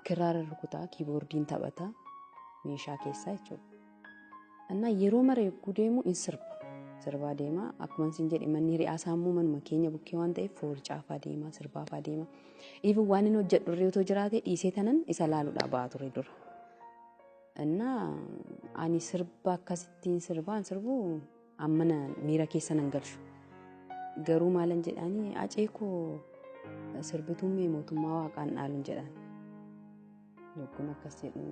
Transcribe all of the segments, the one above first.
Kiraara rukutaa, kiiboordiin taphata, meeshaa keessaa jechuudha. Annaa yeroo mara yogguu deemu in sirba. Sirbaa deema. Akkuma isin jedhe manni hiriyaa isaa immoo manuma keenya bukkee waan ta'eef foorcaafaa deema, sirbaafaa deema. Even waan inni hojjedhu irree otoo jiraate dhiisee tanan isa laaluudhaa ba'a ture dura. Annaa ani sirba akkasittiin sirbaan sirbu Ammana miira keessa nan galchu. Garuu maalan jedhaanii acee koo sirbituun mee mootummaa waaqaan dhaaluun jedhaan. Yogguun akkas jedhu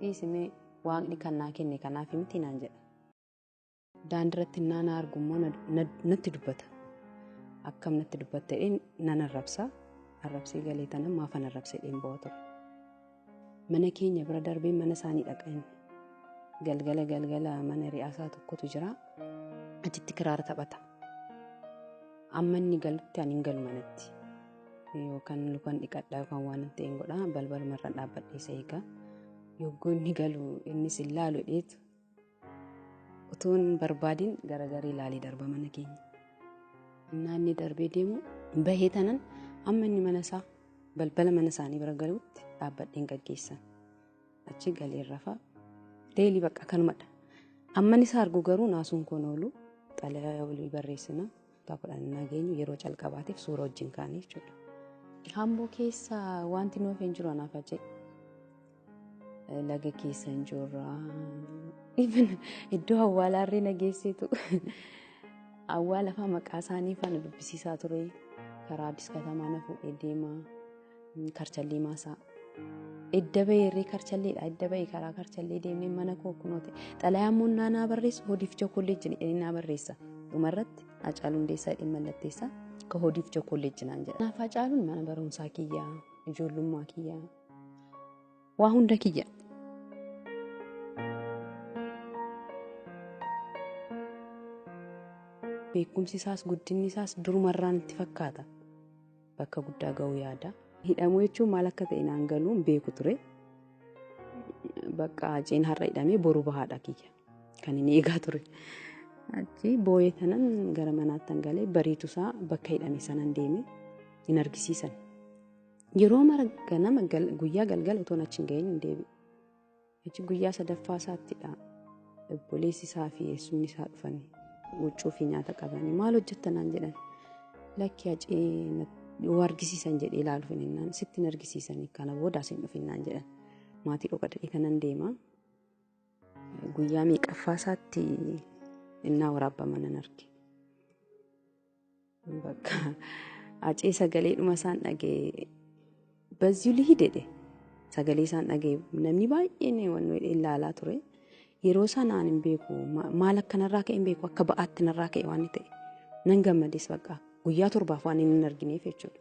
dhiisimee waaqni kan naa kenne kanaaf miti naan jedha. Daandiratti innaa na argu immoo natti dubbata. Akkam natti dubbattee nan arrabsa. Arrabsee galee tanan maafan arrabsee dheen ba'a ture. Mana keenya bira darbee mana isaanii dhaqa inni. Galgala galgala mana ri'aasaa tokkotu jira. Achitti kiraara taphata. Amma inni galutti ani hin galu manatti. Yookaan lukan dhiqadha yookaan waan hin ta'een godha balbalumarra dhaabbadhee isa eega. Yogguu inni galu innis hin laalu dheetu. Utuu hin barbaadin garagarii ilaalee darba mana keenya. Innaa inni darbee deemu bahee tanan amma inni mana isaa balbala mana isaanii bira galuutti dhaabbadheen gaggeessan. Achi galee rafa deelii bakka kanumadha. Amman isa argu garuu naasuun koon oolu xalayaa walii barreessina. Kutaa kudhan innaa geenyu yeroo calqabaatiif suura wajjin kaane jechuudha. Hamboo keessa wanti nuuf hin jiru anaaf ajee. Laga keessa hin jirra. Iddoo awwaalaa irree nageessitu. Awwaala fa'aa maqaa isaanii fa'aa na dubbisiisaa ture. Karaa Addis Katamaa na fuudhee deema. Karchallii maasaa. Edda bahee irree karchalleedha. Edda bahee karaa karchallee deemnee mana koo kunoo ta'e. Xalayaa immoo naa naa barreessu hodiif chookolleejji jedhanii naa barreessa. Dhumarratti Hacaaluu Hundeessaa jedhee mallatteessaa ka hodiif chookolleejji naan jedha. Kanaaf Hacaaluun mana barumsaa kiyya, ijoollummaa kiyya, waa hunda kiyya. Beekumsi isaas guddinni isaas durumarraan itti fakkaata. bakka guddaa ga'uu yaada. Hidhamuu jechuun maal akka ta'e naan galuu hin beeku ture. Bakka Haceen har'a hidhamee boru bahaadha kiyya kan hin eegaa ture. Achi booyee tanan gara manaattan galee bariitusaa bakka hidhame sanan deeme hin argisiisan. Yeroo mara ganama guyyaa galgala utuun achi hin ga'iin hin deebi'u. Hajji guyyaa sadaffaa isaattidha. Obboleessi isaa fi eessumni isaa dhufan huccuu fi nyaata qabanii maal hojjetta naan jedhan. Lakki hacee yoo argisiisan jedhee ilaaluuf hin hinnaan sitti hin argisiisan kana booda asin dhufinnaan jedhan. Maatii dhokadhee kanan deema. Guyyaa meeqaffaa isaatti innaa waraabbaman nan arge. Bakka acee sagalee dhuma isaan dhagee bazzuu lihii dedhe sagalee isaan dhagee namni baay'een waan ilaalaa ture. Yeroo sanaan hin beeku maal akka narraa ka'e hin beeku akka ba'aatti narraa ka'e waan ta'e nan gammades bakka guyyaa torbaaf waan hin argineef jechuudha.